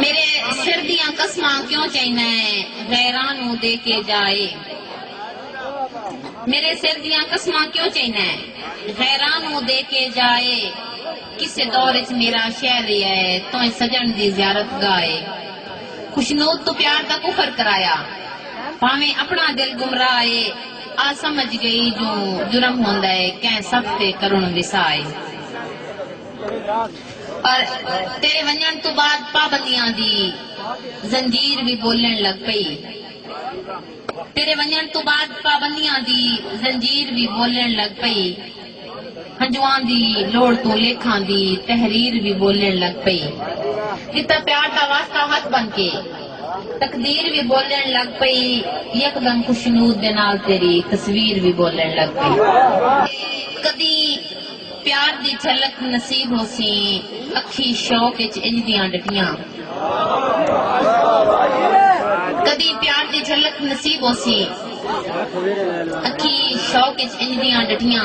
میݙے سر دیاں قسماں کیوں چئیندا ایں غیراں نوں دے کے جا اے میݙے سر دیاں قسماں کیوں چئیندا ایں غیراں نوں دے کے جا اے کسے دور اچ میݙا شہر ریہا اے تئیں سڄݨ دی زیارت گاہ اے خوشنود توں پیار دا کفر کرایا بھانویں اپݨا دل گمراہ اے آ سمجھ ڳئی جو جرم ہوندا اے کئیں صف تے کرݨ وساہ اے۔ پر تیݙے ونڄݨ توں بعد پابندیاں دی زنجیر وی ٻولݨ لڳ پئی تیݙے ونڄݨ توں بعد پابندیاں دی زنجیر وی ٻولݨ لڳ پئی ہنجواں دی لوڑھ توں لیکھاں دی تحریر وی ٻولݨ لڳ پئی ݙتا پیار دا واسطہ ہتھ بن کے تقدیر وی ٻولݨ لڳ پئی یکدم خوشنود دے نال تیݙی تصویر وی ٻولݨ لڳ پئی کدی پیار دی جھلک نصیب ہوسی اکھی شوق اچ انج دیاں ڈٹیاں۔ کدی پیار دی جھلک نصیب ہوسی اکھی شوق اچ انج دیاں ڈٹیاں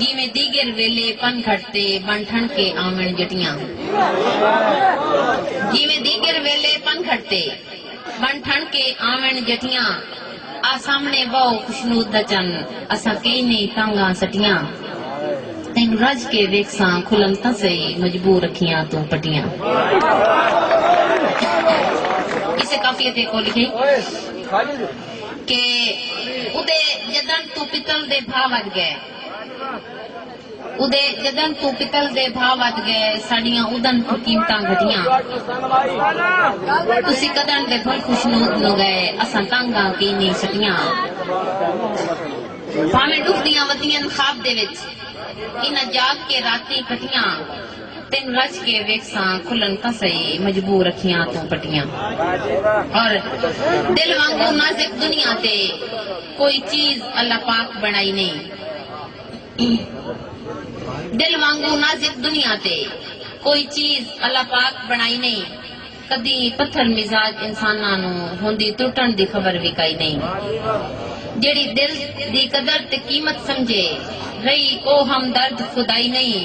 جیویں دیگر ویلے پن گھٹ تے بن ٹھن کے آون جٹیاں۔ جیویں دیگر ویلے پن گھٹ تے بن ٹھن کے آون جٹیاں۔ آ سامنے بہو خشنود دا چن اساں کئی نئی تانگاں سٹیاں تینوں رج کے ویکھساں کھلل تاں سہی مجبور اکھیاں توں پٹیاں کسے قافیے تے کو لکھیے کہ اتے جدن توں پتل دے بھا ودھ گئے۔ اودے جدن توں پتل دے بھا ودھ گئے ساڈیاں اودن توں قیمتاں گھٹیاں تسی کدن دے بھل خوشنود نو گئے اساں تنگ آں کئی نی سٹیاں بھاویں ڈکھ دیاں ودین خواب دے وچ انہاں جاگ کے راتیں کٹیاں تینوں رج کے ویکھساں کھلن تاں سہی مجبور اکھیاں توں پٹیاں اور دل وانگوں نازک دنیا تے کوئی چیز اللہ پاک بنڑائی نی۔ دل وانگوں نازک دنیا تے کوئی چیز اللہ پاک بݨائی نئیں، کدی پتھر مزاج انساناں نوں ہوندی ترٹݨ دی خبر وی کائی نئیں۔ جیڑھی دل دی قدر تے قیمت سمجھے، رہی او ہمدرد خدائی نئیں۔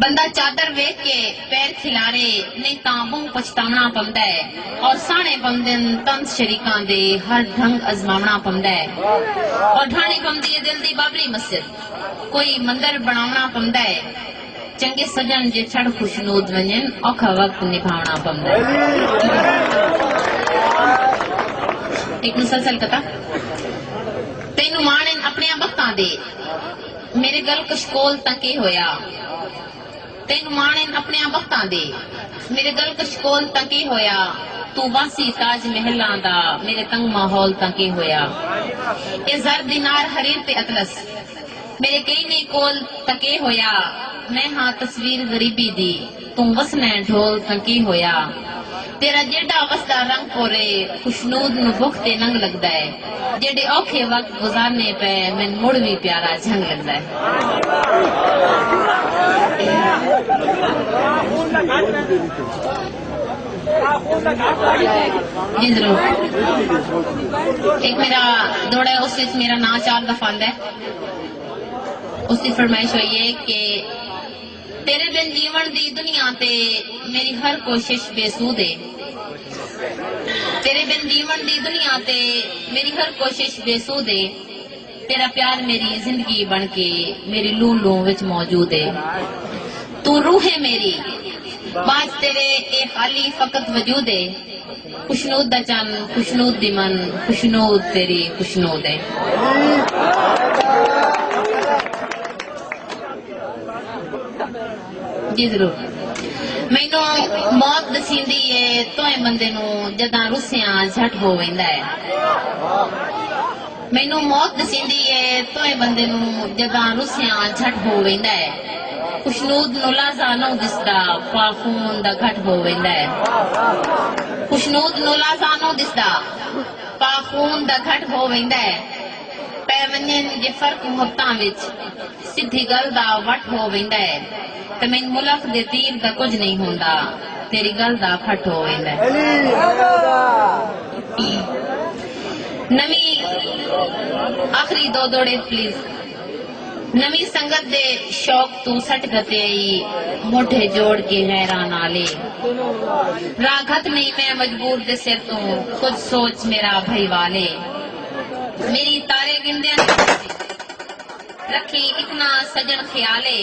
بندہ چادر ویکھ کے پیر کھلارے نئیں تاں بہوں پچھتاوݨا پوندا ہے اور ساݨے پوندن طنز شریکاں دے ہر ڈھنگ ازماوݨا پوندا ہے اور ڈھاݨی پوندی ہے دل دی بابری مسجد کوئی مندر بݨاوݨا پوندا ہے چنگے سجݨ جے چھڑ خوشنود ونڄن اوکھا وقت نبھاوݨا پوندا ہے۔ ہک مسلسل قطعہ تینوں ماݨن اپݨیاں بختاں دے۔ میݙے گل کشکول تاں کے ہویا تینوں ماݨن اپݨیاں بختاں دے میݙے گل کشکول تاں کے ہویا توں واسی تاج محلاں دا میݙے تنگ ماحول تاں کے ہویا اے زر دینار حریر تے اطلس میݙے کئینی کول تاں کے ہویا میں ہاں تصویر غریبی دی۔ توں وسنیں ڈھول تاں کی ہویا تیرا جیڈا وسدا رنگ پورے خوشنود نوں بھک تے ننگ لگدا اے جیڈے اوکھے وقت گزارنے پے مین مڑ وی پیارا جھنگ لگدا اے۔ تیݙے بن جیوݨ دی دنیا تے میݙی ہر کوشش بے سود اے تیݙے بن جیوݨ دی دنیا تے میݙی ہر کوشش بے سود اے تیݙا پیار میݙی زندگی بݨ کے میݙی لوں لوں وچ موجود اے توں روح اے میݙی بعد تیݙے اے خالی فقط وجود اے۔ خوشنود دا چن خوشنود دی من خوشنود تیری خوشنود جی ضرور مینو موت دسیندی ہے توئیں بندے نو جداں رسیاں جھٹ ہو ویندا ہے مینوں موت ݙسیندی اے تئیں بندے نوں جداں رسیاں جھٹ ہو ویندا اے خشنود نوں لازہ نو دسدا پا خون دا گھٹ ہو ویندا اے خشنود نوں لازہ نو دسدا پا خون دا گھٹ ہو ویندا اے پے ونجن جے فرق متاں وچ سدھی گل دا وٹ ہو ویندا اے تمین ملخ دے تیر دا کجھ نہیں ہوندا۔ تیری گل دا پھٹ ہو ویندے۔ نویں آخری دو دوڑے پلیز نویں سنگت دے شوق توں سٹ گھتے ائی موڈھے جوڑ کے حیراں نال اے راہ گھت نئی میں مجبور دے سر توں کجھ سوچ میرا بھئیوال اے میری تارے گھندیاں نی رکھیں اتنا سجن خیال اے۔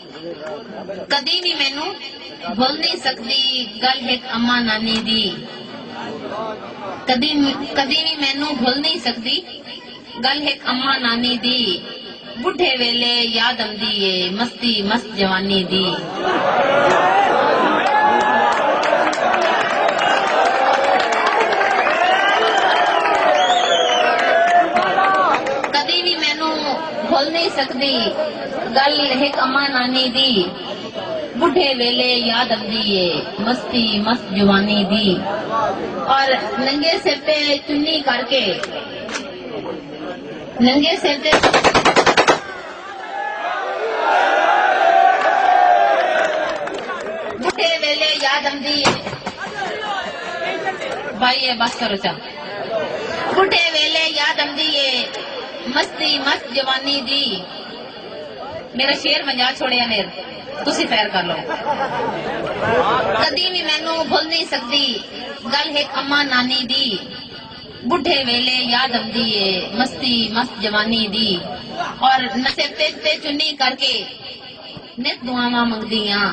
کدی وی مینوں بھل نی سکدی گل ہک اماں نانی دی کدی کدی وی مینوں بھل نی سکدی گل ہک اماں نانی دی بڈھے ویلے یاد امدی اے مستی مست جوانی دی۔ کدی وی مینوں بھل نی سکدی۔ گل ہک اماں نانی دی بڈھے ویلے یاد امدی اے مستی مست جوانی دی اور ننگے سر تے چنی کر کے ننگے سر تے بھائی بس کرو چا بڈھے ویلے یاد آدھی ہے مستی مست جوانی دی میرا شیر ونجا چھوڑیا میر تسی فیر کر لو کدی بھی مینو بھول نہیں سکتی گل ہے اما نانی دی بڈھے ویلے یاد آمدی ہے مستی مست جوانی دی اور نصیب تے چنی کر کے نت دعاواں منگدی ہاں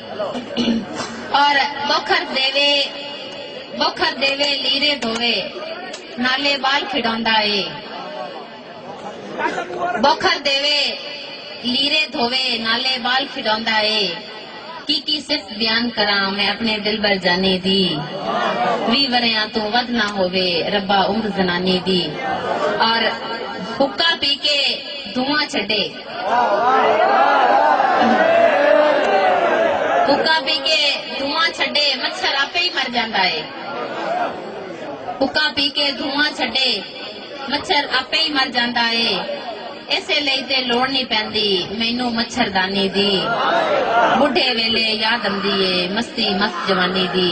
اور بکھر دیوے بکھر دیوے لیرے دھوے نالے بال کھڑوندا اے بکھر دیوے لیرے دھوے نالے بال کھڑوندا اے کی کی صرف بیان کراں میں اپنے دلبر جانی دی وی وریاں توں ودھ نہ ہووے ربا عمر زنانی دی اور حقہ پی کے دھواں چھڈے حقہ پی کے دھواں چھڈے مچھر آپے ہی مر جاندا ہے حقہ پی کے دھواں چھڈے مچھر آپے ہی مر جاندا ہے اسے لئی تے لوڑ نہیں پیندی مینوں مچھر دانی دی بڈھے ویلے یاد امدی ہے مستی مست جوانی دی